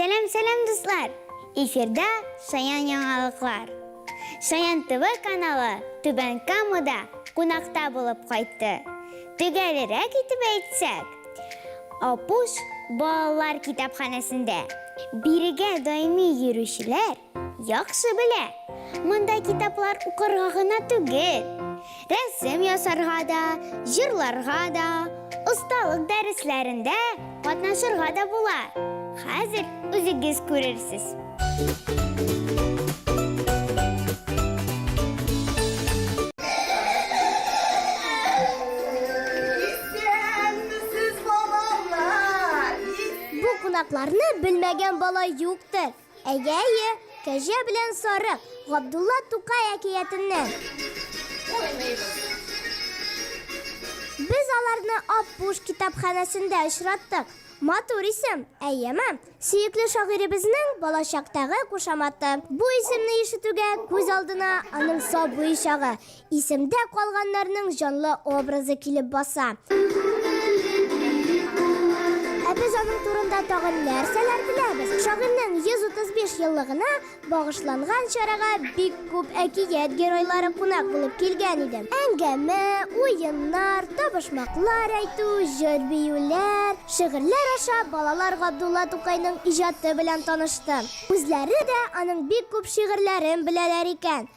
Сәлем-сәлем, дуслар! Эфирда Шаян яңалыклар. Шаян ТВ каналы Түбән Камада кунакта булып кайтты. Төгәлерәк итеп әйтсәк, Апуш балалар китапханәсендә бирегә даими йөрүчеләр яхшы белә. Монда китаплар укырга гына түгел, рәсем ясарга да, җырларга да, осталык дәресләрендә катнашырга да була. Хәзер үзегез күрерсез. Бу кунакларны белмәгән бала юктыр. Әйе, әйе, кәҗә белән сарык, Габдулла Тукай әкиятеннән. Без аларны Аппуш китапханәсендә очраттык. Матур исем, әйеме? Сөекле шагыйребезнең балачактагы кушаматы. Бу исемне ишетүгә күз алдына аның сабый чагы, исемдә калганнарның җанлы образы килеп баса. Ә без аның турында тагын нәрсәләр беләбез? Шагыйрьнең 135 еллыгына Багышланган чарага бик күп әкият геройлары кунак булып килгән иде. Әңгәмә, уеннар, табышмаклар әйтү, җыр-биюләр, шигырьләр аша балалар Габдулла Тукайның иҗаты белән танышты. Үзләре дә аның бик күп шигырьләрен беләләр икән.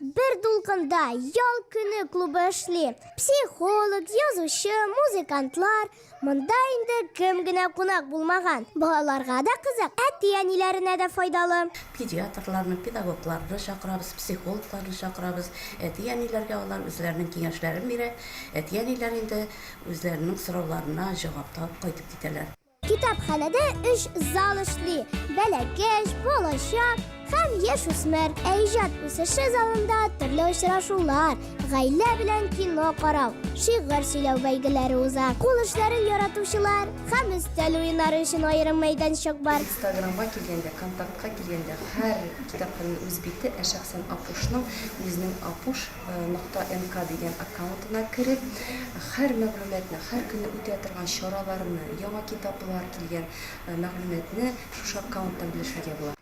Бер дулкында ял көне клубы эшли. Психолог, язучы, музыкантлар. Монда инде кем генә кунак булмаган. Балаларга да кызык, әти-әниләренә дә файдалы. Педиатрларны, педагогларны чакырабыз, психологларны чакырабыз. Әти-әниләргә алар үзләренең киңәшләрен бирә. Әти-әниләр инде үзләренең сорауларына җавап табып кайтып китәләр. Китапханәдә өч зал эшли, бәләкәч, балачак һәм яшь үсмер. Ә иҗат үсеше залында төрле очрашулар, гаилә белән кино карау, шигырь сөйләү бәйгеләре уза. Кул эшләрен яратучылар һәм өстәл уеннары өчен аерым мәйданчык бар. Инстаграмга килгәндә, контактка килгәндә, һәр китапханәнең үз бите, ә шәхсән Апушның үзенең Апуш Нокта МК дигән аккаунтына кереп, һәр мәгълүматны, һәр көнне үтә торган чараларны, яңа китаплар килгән мәгълүматны шушы аккаунттан белешергә була.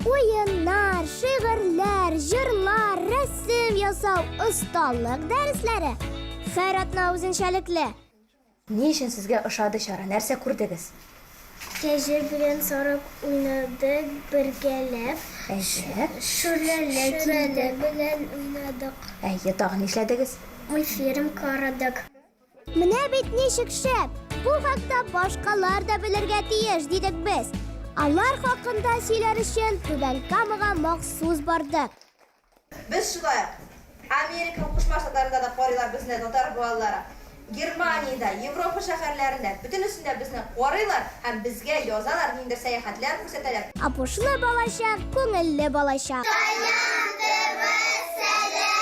Уеннар, шигырьләр, җырлар, рәсем ясау, осталык дәресләре, һәр атна үзенчәлекле. Ни өчен сезгә ошады чара, нәрсә күрдегез? Кәҗә белән Сарык уйнадык бергәләп. Әйе. Шүрәле Шүрәле белән уйнадык. Әйе, тагын нишләдегез? Мультфильм карадык. Менә бит ничек шәп! Бу хакта башкалар да белергә тиеш, дидек без. Алар хакында сөйләр өчен Түбән Камага махсус бардык. Без шулай ук Америка Кушма Штатларында да карыйлар безне татар балалары. Германиядә, Европа шәһәрләрендә, бөтенесендә безне карыйлар һәм безгә язалар, ниндидер сәяхәтләр күрсәтәләр. Апушлы балачак, күңелле балачак. Кайдан тв сәлам!